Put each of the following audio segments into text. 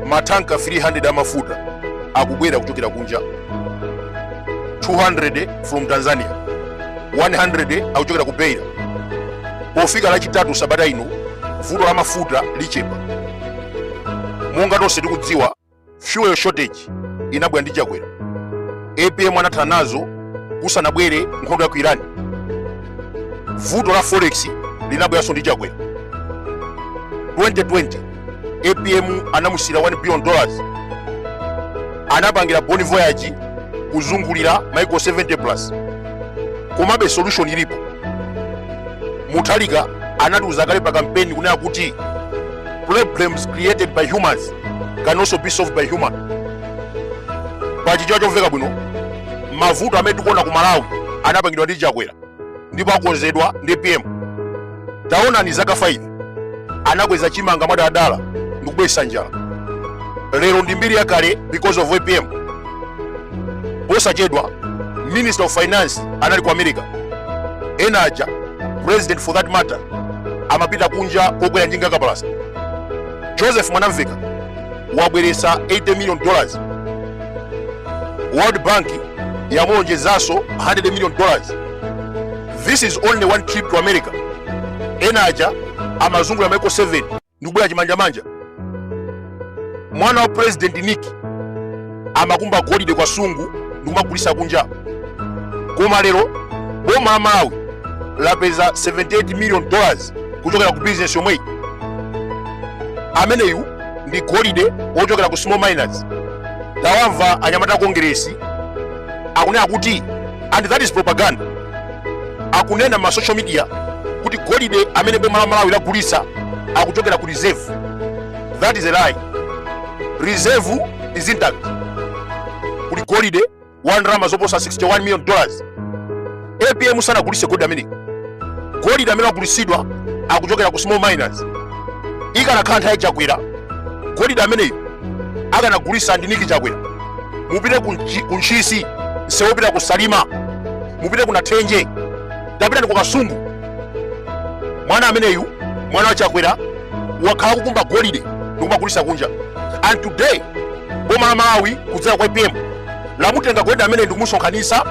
matanka 300 amafuta akubwera kuchokera kunja 200 from tanzania 100 akuchokera ku beira pofika lachitatu sabata ino vuto la mafuta lichepa monga tonse tikudziwa fuel shortage inabwera ndi chakwera apm anathana nazo kusanabwere nkhondo ya ku iran vuto la forex linabweranso ndi chakwera 2020 apm anamusiyira 1 billion dollars anapangira bon voyage kuzungulira maiko 70 plus komabe solution ilipo mutharika anatiuza kale pa kampeni kunena kuti problems created by humans can also be solved by human pa chichewa chomveka bwino mavuto amene tikuona ku malawi anapangidwa ndi chakwera ndipo akonzedwa ndi apm taonani zaka 5 anakweza chimanga mwadala ndi kubweresa njala lero ndi mbiri yakale because of apm posachedwa minister of finance anali ku america ena aja president for that matter amapita kunja kukakwera njinga kapalasa joseph mwanamveka wabweretsa 80 million dollars world bank yamuonjezeranso 100 million dollars this is only one trip to america ena aja amazungulira maiko 7 ndikubwera chimanjamanja mwana wa president nick amakumba golide ku kasungu ndikumagulisa kunja koma lero boma la malawi lapeza 78 million dollars kuchokera ku business yomweyi ameneyu ndi golide wochokera ku small miners tawamva anyamata a kongeresi akunena kuti and that is propaganda akunena mma social media kuti golide amene boma la malawi lagulisa akuchokera ku reserve that is a lie reserve is intact kuli golide wa ndalama zoposa 61 million dollars apm sanagulise golide ameneyi golide amene agulisidwa akuchokera ku small miners ikanakhala nthawi ya chakwera golide ameneyo akanagulisa ndi niki chakwera mupite ku ntchisi msewu opita ku salima mupite ku nathenje tapitani ndi ku kasungu mwana ameneyu mwana wa chakwera wakhala kukumba golide ndikumagulisa kunja and today boma la malawi kudzera kwa apm lamutenga golide ameneyi ndikumusonkhanisa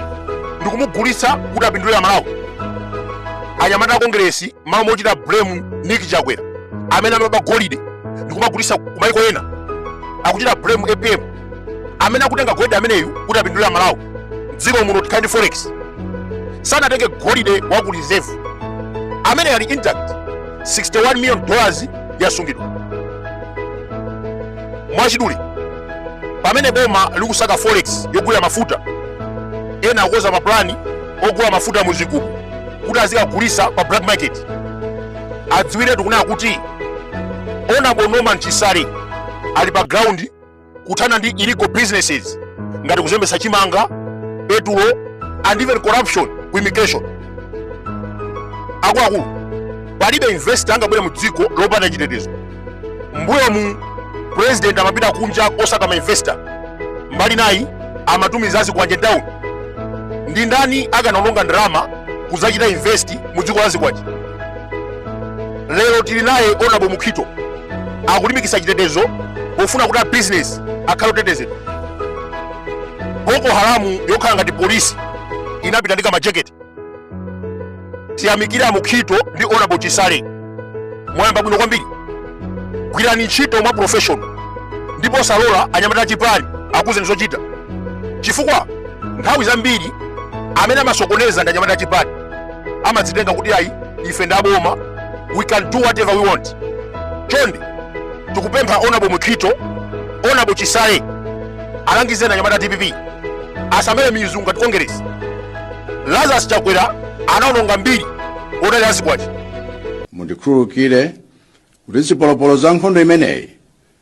ndikumugulitsa kuti apindulire amalawi anyamata a kongeresi malo mochita blame niki chakwera amene amaba golide ndikumagulisa kumaiko ena akuchita blame apm amene akutenga golide ameneyu kuti apindulire amalawi mdziko muno tikhale ndi forex sanatenge golide wa ku reserve amene ali intact 61 million dollars yasungidwa mwachidule pamene boma likusaka forex yogulira mafuta ena akukonza mapulani ogula mafuta mu zigubu kuti azikagulisa pa black market adziwiretu kunena kuti honorable norman chisale ali pa ground kuthana ndi illegal businesses ngati kuzembetsa chimanga petulo and even corruption ku immigration akuluakulu palibe investor angabwere mu dziko lopanda chitetezo mbuyomu president amapita kunja kosaka ma investor mbali inayi amatumiza azikwanje mtauni ndi ndani akanalonga ndalama kudzachita invest mu dziko la zikwanje lero tili naye honorable mukhito akulimbikitsa chitetezo pofuna kuti abizinesi akhale otetezedwa boko haramu yokhala ngati polisi inapita ndi kamajeketi tiyamikire a mukhito ndi honorable chisale mwayamba bwino kwambiri gwirani ntchito mwa professional ndipo osalola anyamata achipani akuuzeni zochita chifukwa nthawi zambiri amene amasokoneza ndi anyamata achipani amadzitenga kuti ayi ife ndi aboma we can do whatever we want chonde tikupempha honorable mukhito honorable chisale alangizeni anyamata a dpp asamere mizu ngati kongeresi lazarus chakwera anaononga mbiri podalira zikwanje mundikhululukire kuti zipolopolo za nkhondo imeneyi